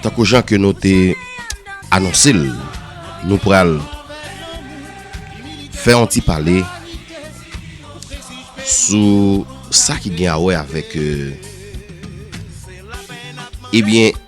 Tankou jan ke nou te anonse l, nou pral fè yon ti pale sou sa ki gen a wè avèk ebyen euh,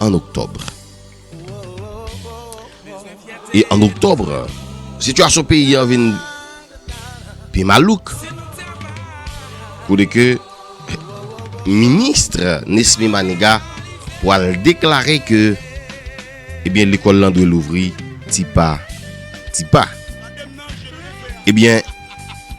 an Octobre. E an Octobre, sitiyasyon peyi an vin pi malouk. Kou de ke ministre Nesmy Maniga pou al deklare ke ebyen eh lekol lan dwe louvri ti pa ti pa. Ebyen eh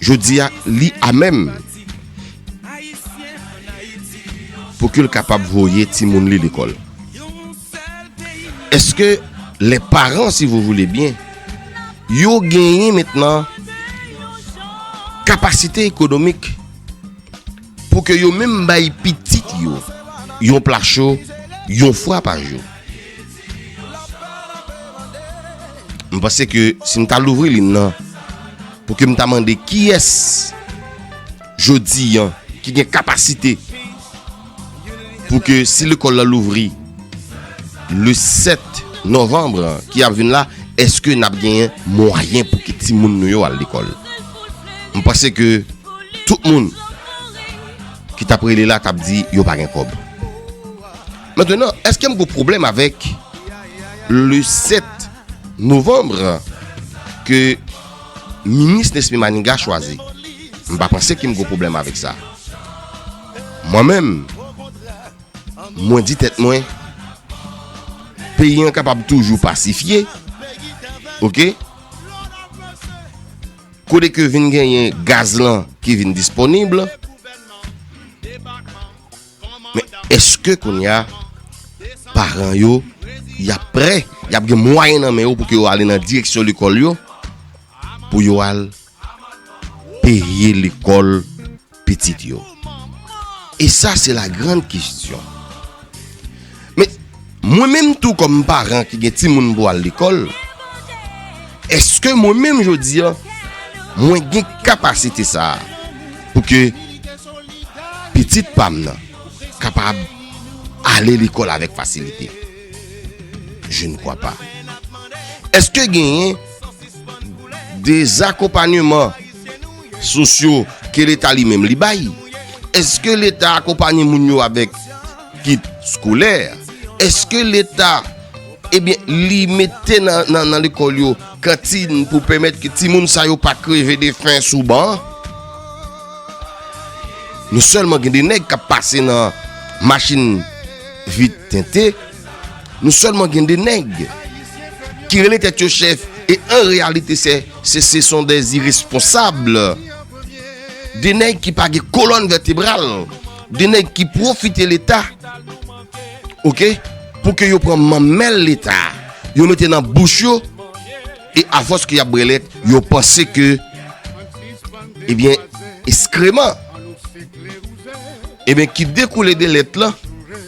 Jodi a li a menm pou ke l kapab voye ti moun li lekòl. Eske le paran si vou voule byen yo genyen mentnan kapasite ekonomik Pou ke yo menm bay pitit yo yon pla cho yon fwa pa jou. M panse ke si m ta louvri lin nan, pou ke m ta mande kiyès jodi an ki gen kapasite pou ke si lekòl la louvri le 7 novanbre ki ap vin la, eske n ap gen mwayen pou ke ti moun nou yo al lekòl. m panse ke tout moun ki tap rele la tap di yo pa gen kob. Maintenant, eske m gen problème avec le 7 novembre ke minis Nesmy Maniga chwazi? M pa panse ke m gen problème avec sa. Mwen menm, mwen di tèt mwen, peyi an kapab toujou pasifye, ok? Kote ke vin genyen gaz lan ki vin disponib. Men eske koun ya paran yo ya pre, ya gen mwayen nan men yo pou ke yo ale nan direksyon lekol yo pou yo ale. Peye lekòl pitit yo. E sa se la gran kistyon. Men, mwen menm tou kòm paran ki gen ti moun pou al lekòl, eske mwen menm jodi an, mwen gen kapasite sa a pou ke pitit pam nan kapab ale lekòl avèk fasilite? Je ne kwa pa. Eske genyen? Dezakonpanyeman sosyo ke leta li menm li bay. Eske leta akonpanye moun yo avèk kit skolè? Eske leta ebyen eh li mete nan lekòl yo kantin pou pèmèt ki ti moun sa yo pa kreve de fen sou ban? Nou sèlman gen de nèg kap pase nan machin vit tente. Nou sèlman gen de nèg ki rele tèt yo chèf e an reyalite se se son de iresponsab. De nèg ki pa gen kolòn vètebral, de nèg ki profite leta. Ok, pou ke yo pran manmèl leta, yo mete nan bouch yo e afòs ki ap brelèt, yo panse ke ebyen eh eskreman ebyen eh ki dekoule de lèt lan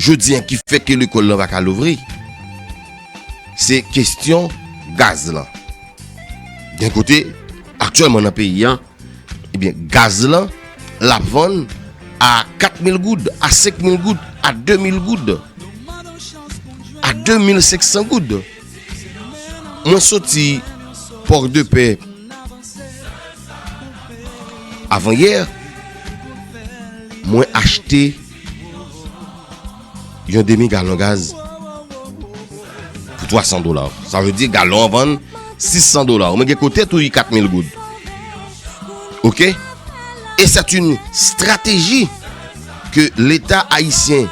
Jodi an ki fè ke lekòl lan pa ka louvri, se kestyon gaz lan. Gen kote, aktyèlman nan peyi an, ebyen gaz lan, l ap vann a 4 mil goud, a 5 mil goud, a 2 mil goud, a 2 mil 500 goud. Mwen soti port de paix avan yè, mwen achte. Yon demi galon gaz pou 300 dola. Sa vle di galon vann 600 dola. Mwen gen kote tou yi 4000 goud. Ok? E set yon strategi ke leta ayisyen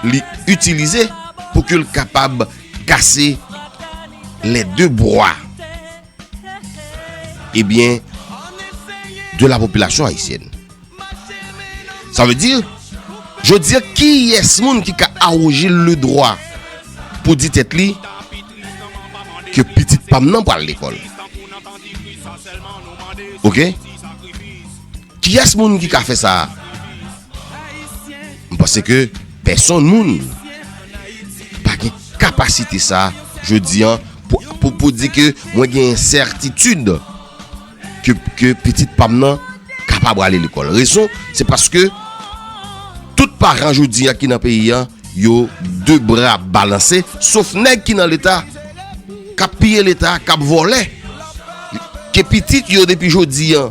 li itilize pou ke l kapab kase le de bwa. e byen de la popilasyon ayisyen. Sa ve di, je di ki yes moun ki ka aroje le dwa pou di tet li ke pitit pam nan pal lekol. Ok? Ki yes moun ki ka fe sa a? M panse ke pèsonn moun pa gen kapasite sa jodi an pou di ke mwen gen sètitid ke pitit pa m nan kapab ale lekòl. Rezon se paske tout paran jodi an ki nan peyi an yo de bra balanse sof nèg ki nan leta kap piye leta, kap vòlè ke pitit yo depi jodi an.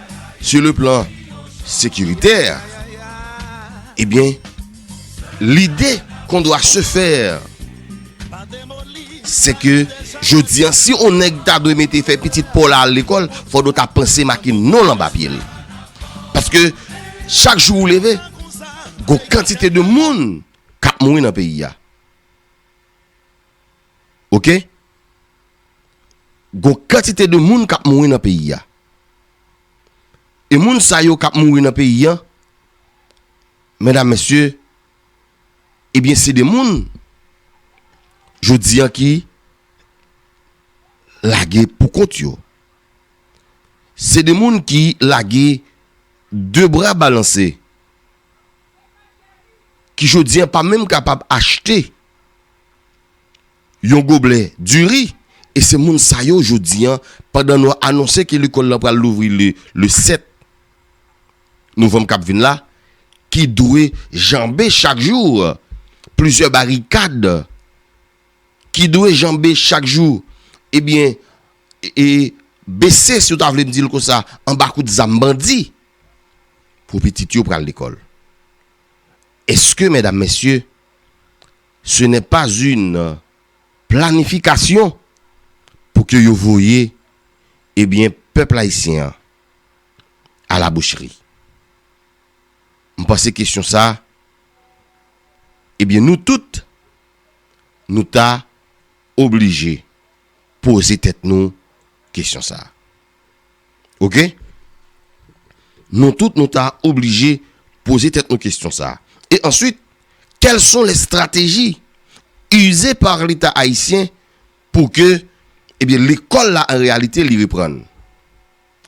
Sou le plan sekiritè, ebyen, eh lide kon dwa se fè, se ke jodi an, si on nèg ta dwe mete fè pitit pa w la al lekòl, fò do ta panse make non l anba pye l. Paske, chak jou ou leve, gon kantite de moun k ap mouri nan peyi a. ok gon kantite de moun kap mouri nan peyi a e moun sa yo kap mouri nan peyi an medam mesye ebyen se de moun jodi an ki lage pou kont yo se de moun ki lage de bra balanse ki jodi an pa menm kapab achte Yon goblè diri e se moun sa yo jodi an pandan nou anonse ke lekòl lan pral louvri le le 7 novanm k ap vin la ki dwe janbe chak jou plizyè barikad ki dwe janbe chak jou ebyen e bese si w ta vle m di l konsa anba kout zam bandi pou pitit yo pral lekòl. Eske medam mesye. Ce n'est pas une planification pou ke yo voye ebyen pèp ayisyen an a la boucherie. M panse kesyon sa ebyen nou tout nou ta oblije poze tèt nou kesyon sa. Ok. Nou tout nou ta oblije poze tèt nou kestyon sa. E answit, kèl son lè strateji ize par leta ayisyen pou ke ebyen lekòl la an reyalite li reprann.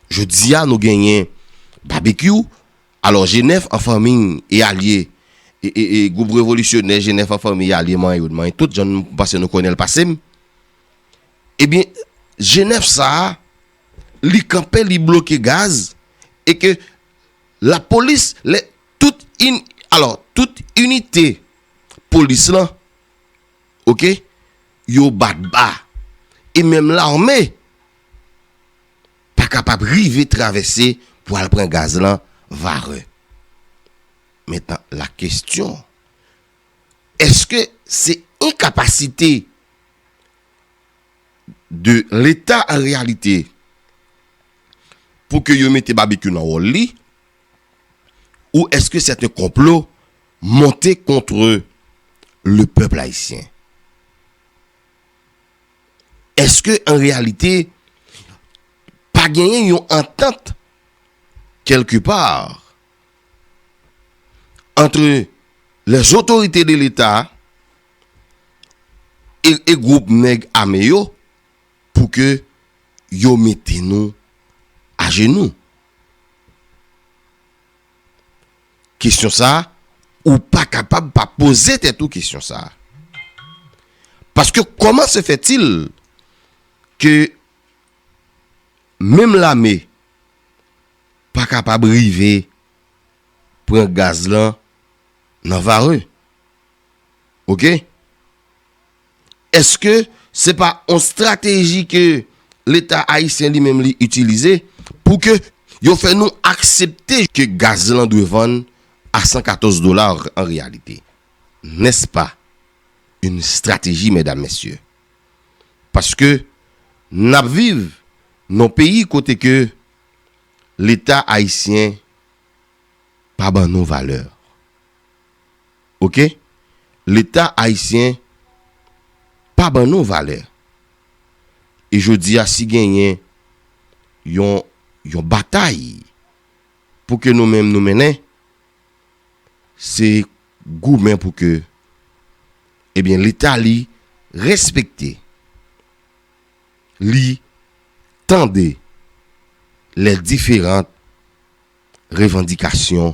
Jodi a nou genyen Babekyou, alò Jenèf an fanmi e alye e e e gwoup revolisyonè Jenèf an fanmi e alye manyen yo dmanyen tout jan nou pase nou konnenl pasem. Ebyen Genève sa a li kanpe li bloke gaz e ke la polis lè tout yn alò tout inite polis lan ok yo bat ba e menm larme pa kapab rive travèse pou al pran gaz lan Varreux mentnan la kestyon eske se enkapasite de leta an reyalite pou ke yo mete Babekyou nan wòl li ou eske sèt en konplo monte kontre le pèp ayisyen? Eske an reyalite pa genyen yon antant kelke pa antre lè zotorite de leta e group nèg ame yo pou ke yo mete nou a jenou. Kesyon sa a ou pa kapab pa poze tèt ou kesyon sa a. Paske kòman se fè til ke menm lame pa kapab rive pran gaz lan nan vare. Ok Eske se pa on strateji ke leta ayisyen li menm li itilize pou ke yo fè nou aksepte ke gaz lan dwe vann a 114 dola an reyalite? N'est-ce pas une stratégie mesdames messieurs? Paske n'ap viv non peyi kote ke leta ayisyen pa ban nou valeur. ok leta ayisyen pa ban nou valè e jodi a si genyen yon yon batay pou ke nou menm nou mennen se goumen pou ke ebyen leta li respekte li tande lè diferant revandikasyon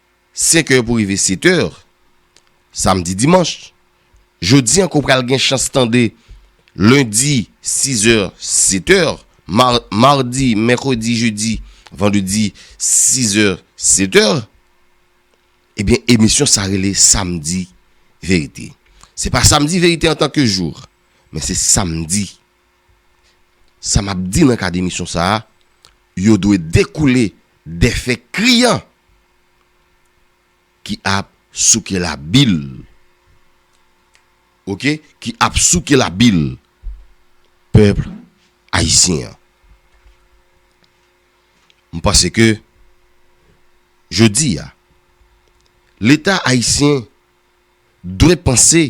5 è pou rive 7 è, samdi dimanch. Jodi ankò pral gen chans tande lendi 6 è, 7 è, mardi, mèkredi, jedi, vandredi 6 è, 7 è. Ebyen emisyon sa rele samdi verite. Se pa samdi verite antanke jou, men se samdi Sa m ap di nan ka demisyon sa a, yo dwe dekoule de fè kriyan ki ap souke la bil. Ok, ki ap souke la bil pèp ayisyen an. M panse ke jodi a, leta ayisyen dwe panse.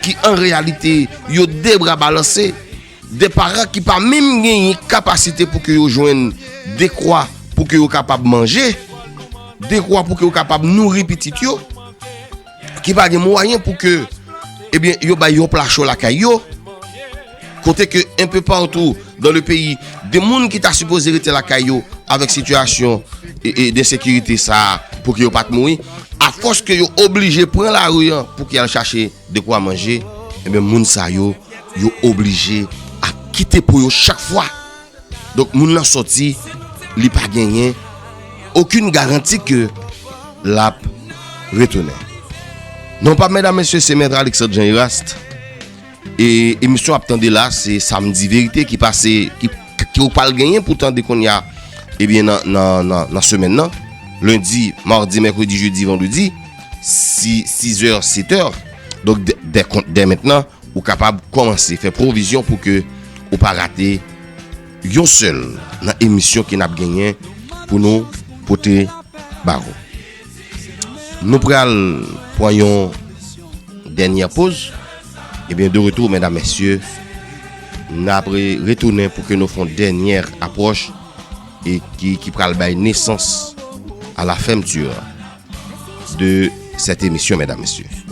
Ki an reyalite yo de bra balanse, de paran ki pa menm genyen kapasite pou ke yo jwenn de kwa pou ke yo kapab manje, de kwa pou ke yo kapab nouri pitit yo, ki pa gen mwayen pou ke, ebyen, yo bay yon pla cho lakay yo. Kote ke enpe partou dan le peyi, de moun ki ta sipoze rete lakay yo avèk sitiyasyon de sekirite sa a pou ki yo pat mouri, a fòs ke yo oblije pran lari an pou ki al chache de kwa manje, enben moun sa yo, yo oblije ap kite po yo chak fwa. Donk moun nan sòti, li pa genyen okin garanti ke lap retounen. Non pa mèdam mesye se mèt Alexandre Jean Eraste. E emisyon ap tande la se samdi verite ki pase ki ou pal genyen pou tande konya ebyen eh nan semen nan lundi, mardi, mercredi, jeudi, vendredi 6 er 7 er donk dè mèt nan ou kapab komanse fè provizyon pou ke ou pa rate yon sel nan emisyon ki nap genyen pou nou pote baro. Nou pral pran yon dènyè poz. Ebyen, eh de retou, mèdam, mèsyè, nan apre retounen pou ke nou fon dènyè apwòch e ki pral bay nesans a la fèmtur de sèt emisyon, mèdam, mèsyè.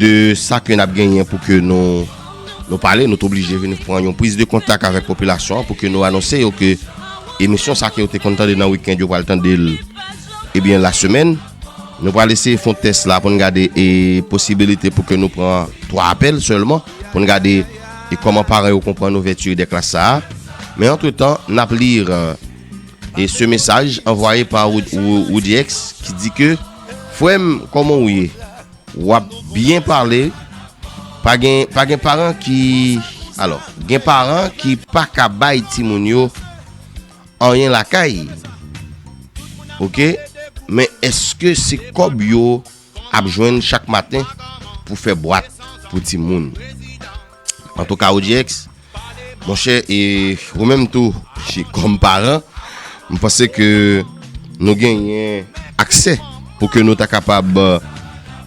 de sa ke nap genyen pou ke nou pale, nou te oblije vin pran yon priz de kontak avèk popilasyon an pou ke nou anonse yo ke emisyon sa ke yo te konn tande nan wikend yo pral tande l ebyen eh la semèn. Nou pral eseye fon tès la pou nou gade e posibilite pou ke nou pran 3 apèl sèlman pou nou gade e kòman paran yo konprann ouvèti de klas sa a. Men antre tan, nap lir e se mesaj anvwaye pa Roudiex ki di ke. Frem koman ou ye wap byen pale pa gen pa gen paran ki alo gen paran ki pa ka bay timoun yo anyen lakay ok men eske se kob yo ap jwen chak maten pou fe bwat pou timoun. Antouka OGX, monchè e ou menm tou ki kòm paran, m panse ke nou genyen aksè pou ke nou ta kapab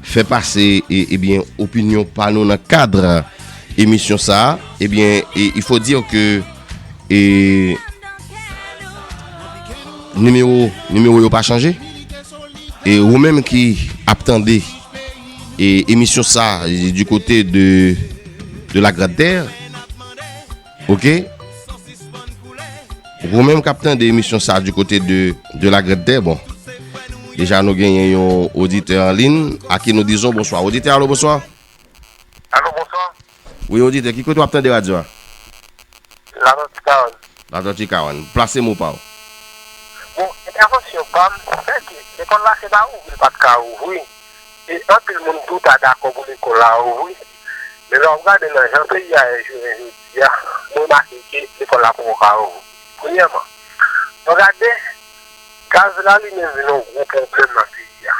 fè pase e ebyen opinyon pa nou nan kadr emisyon sa a, ebyen e il faut dire ke e nimewo nimewo yo pa chanje e ou menm ki ap tande. E emisyon sa di kote de de la grad ter. Ok. Ou menm kapten de emisyon sa di kote de de la grad ter. Bon. Deja nou gen yon odite an lin. Aki nou dizon. Bonswa. Odite alo bonswa. Alo bonswa. Wi oditè, ki kote wap tande radyo a? Latorti Kawann. Latorti Kawann. Plase mo pa w. Bon, entèvansyon pa m, se ke lekòl la se pa ouvri l pat ka ouvri, e anpil moun tou ta dakò pou lekòl la ouvri. Men lè w ap gade nan jan peyi a ye jounen jodi a, mwen remake ke lekòl la poko ka ouvri. Premyèman, lè w gade, gaz la li menm vin yon gwo pwoblèm nan peyi a.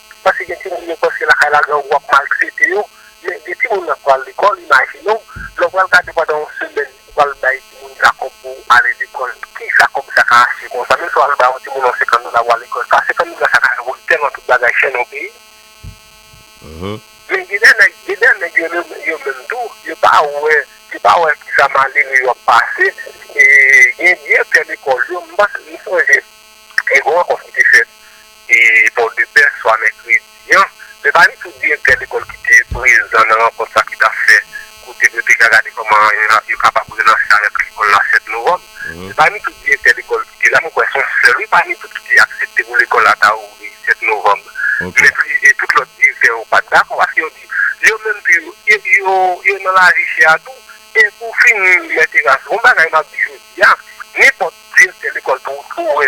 Paske gen timoun yo panse lakay la grangou ap maltrete yo, men gen timoun nan pral lekòl, imajine w, lè w pral gade pandan yon semèn ou pral bay timoun sa kòb pou ale lekòl, ki sa kòb sa ka achte konsa? Menm si w al bay yon timoun yon senkann dola pou al lekòl, sa senkann dola sa ka fè moun tèlman tout bagay chè nan yon peyi. Men gen de nèg, gen de nèg yo menm, yo menm tou, yo pa wè, yo pa wè ki sa malere yo ap pase. E gen direktè lekòl yo, m panse, m sonje, gen yon rankont ki te fèt e Pòdepè swa mèkredi an. Men pa li tout direktè lekòl ki te prezan nan rankont sa ki t ap fèt kote yo te ka gade kòman yo kapab relanse avèk lekòl la 7 novanm. Se pa li tout direktè lekòl ki te la, mwen kwè se yon sèl wi pa li tout ki te aksepte pou lekòl la ta ouvri 7 novanm. Men plis tout lòt direktè yo pa t dakò paske yo di yo menm tou yo nan lavi chè a tou. E pou fini Mèt Eras, yon bagay m ap di jodi a, nenpòt direktè lekòl pou ou wè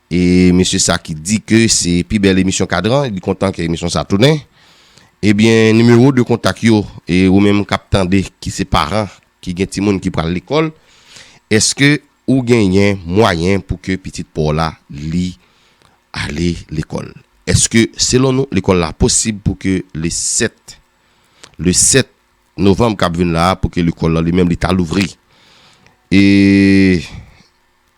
E mesye sa ki di ke se pi bèl emisyon Kadran, li kontan ke emisyon sa tounen. Ebyen, nimewo de kontak yo, e ou menm k ap tande ki se paran ki gen timoun ki pral lekòl, èske ou genyen mwayen pou ke pitit pa w la li ale lekòl? Èske selon nou lekòl la posib pou ke le 7, le 7 novanm k ap vin la a pou ke lekòl la li menm li ta louvri? E.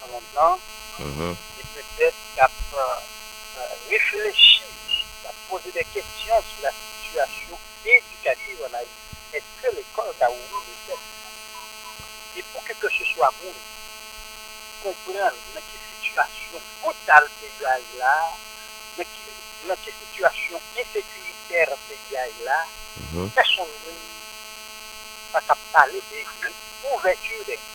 nan mond lan e petèt y ap reflechi, y ap poze de kesyon sou la sitiyasyon edikativ an Ayiti. Eske lekòl ka ouvri petèt? E pou kekeseswa moun konprann nan ki sitiyasyon brital peyi a ye la, nan ki sitiyasyon ensekiritè peyi a ye la, pèsonn moun pa ka pale de ouvèti de klas.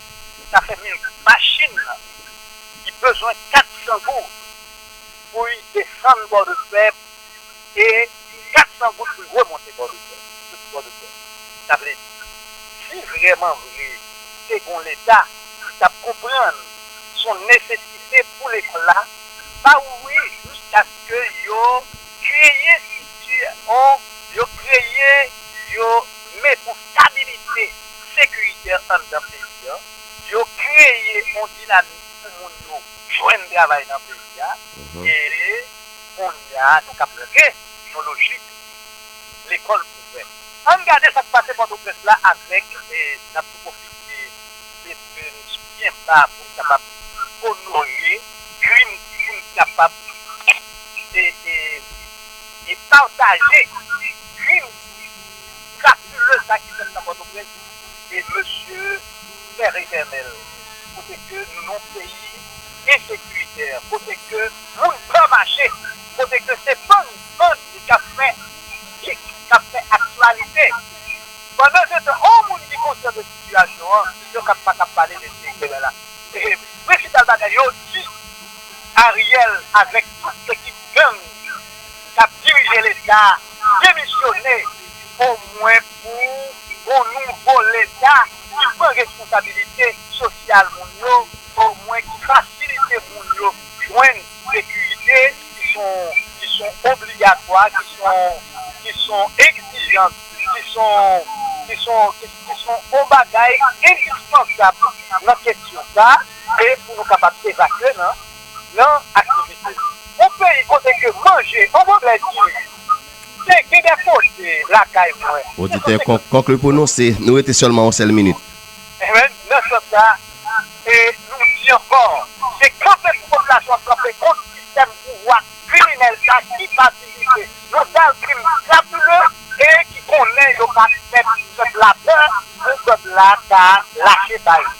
Sa fè mil goud. Machin lan li bezwen 400 goud pou li desann bò de fè e 400 goud pou li remonte bò de fè. Soti bò de fè. Sa vle di si vrèman vre te gon leta li t ap konprann s on nesesite pou lekòl la pa ouvri jiskaske yo kreye strikti o yo kreye yo met on stabilite sekiritè anndan peyi an, yo kreye yon dinamik pou moun yo jwenn travay nan peyi a, e kounye a nou kab rantre yon lojik lekòl ouvè. Ann gade sa k pase Pòtoprens la avèk, n ap pwofite mete n sou pye ba pou n kapab onore krim pou n kapab e pataje krim. Mirakuleu sa ki fèt nan pòtoprens e mesye tèr etènèl kote ke nou nan yon peyi ensekirite kote ke moun pè mache kote ke se bann bandi kap fè mistik kap fè aktyalite pandan se tan yon moun ki konsyan de sitiyasyon an yo kap pa kap pale de peyi de lala e prensipal bagay yo di ariel avèk tout ekip gang kap dirije leta. demisyone omwen pou yon nouvo leta ki pran responsabilite sosyal moun yo, omwen ki fasilite moun yo jwenn sekirite ki son obligatwa, ki son egzijans, ki son yon bagay endispansab nan kesyon sa e pou nou kapab evakye nan. nan aktivite. Yon peyi kote ke manje an valè diri te gen de kote lakay mwen. Oditè, konkli pou nou se nou rete sèlman yon sèl minit. Enben, nan sans sa a, e nou di ankò, se kanpe pou popilasyon an kanpe kont sistèm pouvwa kriminèl sa ki patisipe nan sal krim krapileu e ki konnen yo pa pèp pèp la pè pou pèp la ta lache bay li.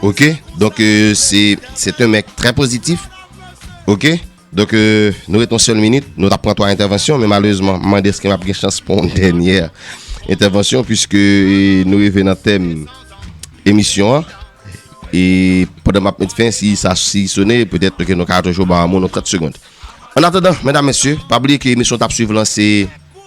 Ok, donk euh, se se te mèk trè pozitif. Ok, donk euh, nou ret yon sèl minit, nou tap pran 3 entèvansyon, men malèzman, mande eske m ap gen chans pou yon dènyè entèvansyon, pwiske euh, nou rive nan tèm emisyon an. E pandan m ap met fen, si sa si sone, petèt ke nou ka toujou ba moun nou 30 segond. An atadan, mèdam mèsye, pa bliye ke emisyon tap suiv lan se...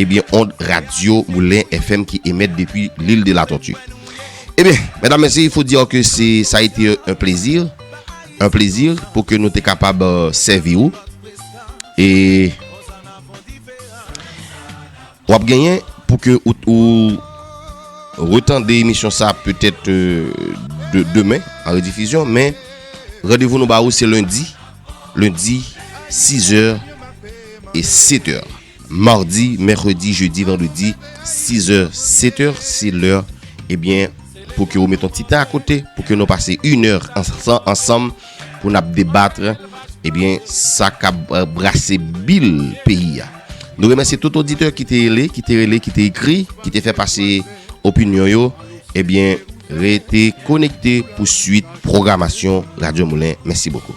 Ebyen ond radyo moulen FM ki emèt depi l'Ile de la Tortue. Ebyen, mèdam mèsye, il faut dire que se sa a été un plaisir, un plaisir pou ke nou te kapab sèvi ou. E w ap genyen pou ke ou retande emisyon sa a petèt demen an redifizyon, men randevou nou ba ou se lendi, lendi 6 è e 7 è. Mardi, mèkredi, jedi, vandredi, 6 zè, 7 zè, se lè, ebyen, pou ke ou met yon ti tan akote, pou ke nou pase yon è ansanm, pou nap debatre, ebyen, sa ka brase bil peyi a. Nou remèsi tout oditè ki te ele, ki te rele, ki te ekri, ki te fè pase opinyon yo, ebyen, rete konekte pou suit programasyon Radyo Moulin. Mèsi bokou.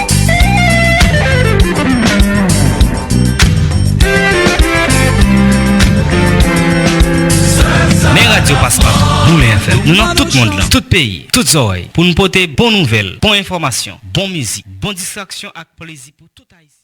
Men radyo Paspatou, Goumen FM, nou nan tout mond lan, tout peyi, tout zòrèy, pou nou pote bon nouvèl, bon enfòmasyon, bon mizik, bon distraksyon ak plezi pou tout Ayisyen.